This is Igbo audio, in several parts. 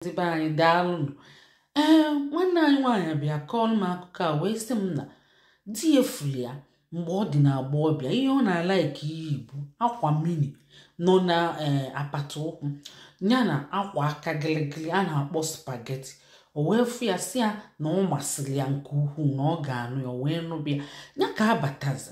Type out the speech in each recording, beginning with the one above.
ndị be anyị daalụnụ ee nwanne anyị nwaanyị bịa kọọlụ m akụkọ a wee sị m na di ya fụlị ya mgbe ọ dị n'agbọghọbịa ihe ọ na-alaịkị iyi bụ akwa mini nọ na ee apata ụkwụ ya na akwa aka gịlịgịlị a na-akpọ spageti o wee fụ ya sị ya na ọ masịrị ya nke ukwuu na ọ ga-anụ ya o wee nụbịa ya ka a batazi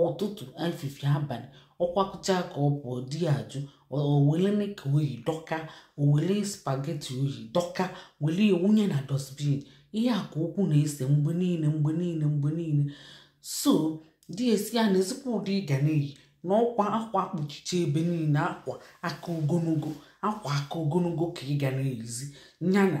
ụtụtụ efifie abalị ọ kwakọcha ka ọ pụọ di ya ajụ o wele nika o yi dọkaa o wele spageti o yi dọkaa wele wụnye na dosbin ihe a ka okwu na-ese mgbe niile mgbe niile mgbe niile so di asị ya neezikwa ụdị ị ga na-eyi na ọkwa akwa kpuchicha ebe niile akwa aka ogologo akwa aka ogologo ka ị ga na-eyizi ya na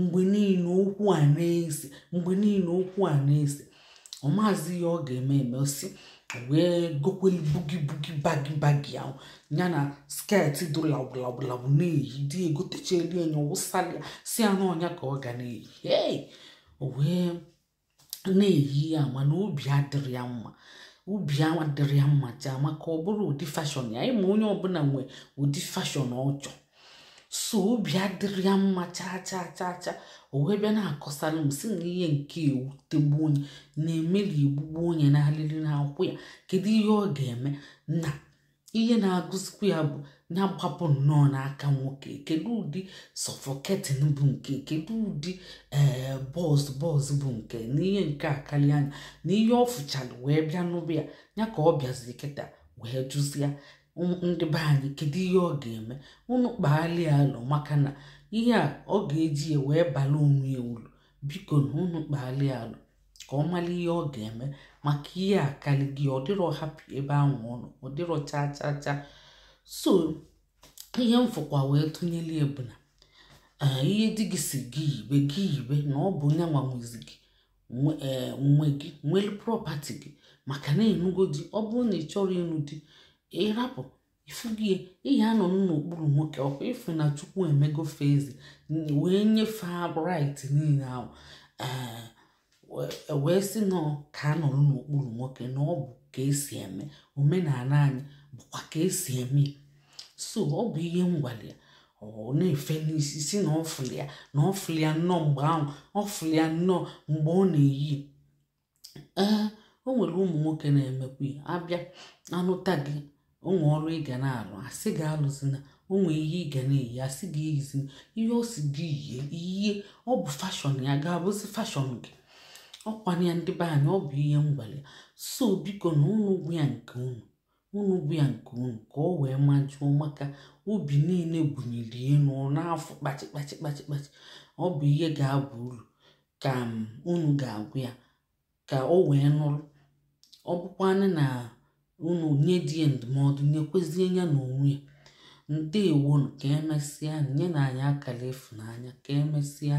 mgbe niile okwu a na-ese mgbe niile okwu a na-ese ọ maazị ihe ọ ga-eme eme o si wee gokwelu bugi bugi bagi bagi ahụ ya na sket dị lawụlawụlawụ na-eyi di egotechelu ya wụsalụ ya sị ya na ọ nya ka ọ ga na-eyi hey! o wee na-eyi ya mana obi adịrị ya mma obi adịrị ya mma chaa maka ọ bụrọ ụdị fashọn ya ị ma onye ọbụla nwe ụdị fashọn ọ chọ so obi adịrị ya mma chaa chaa chaa chaa o wee bịa na-akọsara m sị na ihe nke a ewutegbuo nya na-emeli egbugbuo nya na alịrị na-akwụ ya kedu ihe ọ ga-eme na ihe na-agụzikwa ya bụ ya gbapụ nnọọ n'aka nwoke kedu ụdị sọfọketin bụ nke a kedu ụdị ee bọs bọs bụ nke a na ihe nke a akarị ya na ihe ọ fụchara wee bịa nụba ya ya ka ọ bịaziri kịta wee jụzịa ndị be anyị kedu ihe ọ ga-eme unu kpaali ya alo maka na ihe a ọ ga-eji ya wee bala onwe ya ulu bikonụ unu kpaali ya alo ka ọ mara ihe ọ ga-eme maka ihe akali gị ọ dịrọ hapị ebe ahụ ọ nọ ọ dịrọ chaa chaa chaa so ihe m fụkwa wee tụnyere ya bụ na ee, ihe di gị sị gị yibe gị yibe na ọ bụ nya nwa nwezi gị nwe- ee, nwe gị nwere prọpati gị maka na ị nụgo di ọ bụrụ na ị chọrọ ịnụ di ị rapụ ị fụgo ihe a nọ n'okpuru nwoke ọkwa ị fụ na chukwu emego fazi wee nye fa raịt niile ahụ wee sị na ka a nọrọ n'okpuru nwoke na ọ bụ ka e si eme omenala anyị bụkwa ka e si eme so ọ bụ ihe m gwalị ya ọ na-efe n'isi sị na ọ fụlị ya na ọ fụlị ya nnọọ mgbe ahụ ọ fụlị ya nnọọ mgbe ọ na-eyi ee o nwere ụmụ nwoke na-emekwa ya abịa anụta gị o nwee ọrụ ị ga na-alụ a sị gị alụzina o nwee ihe ị ga na-eyi a sị gị eyizina ihe ọ sị gị yie i yie ọ bụ fashọn ya ga-abụzi fashọn gị ọ kwa nya ndị be anyị ọ bụ ihe m gwara so biko na unu gwa ya nke unu unu gwa ya nke unu ka o wee majụọ maka obi niile bunyere elu n'afọ kpachị kpachị kpachị kpachị ọ bụ ihe ga-aba uru ka unu ga-agwa ya ka o wee nụrụ ọ bụkwanụ na unu nye di ya ndụmọdụ nyekwezie ya na onwe ya ndewonu ka emesịa nyenụ anyị akara ịfụnanya ka emesịa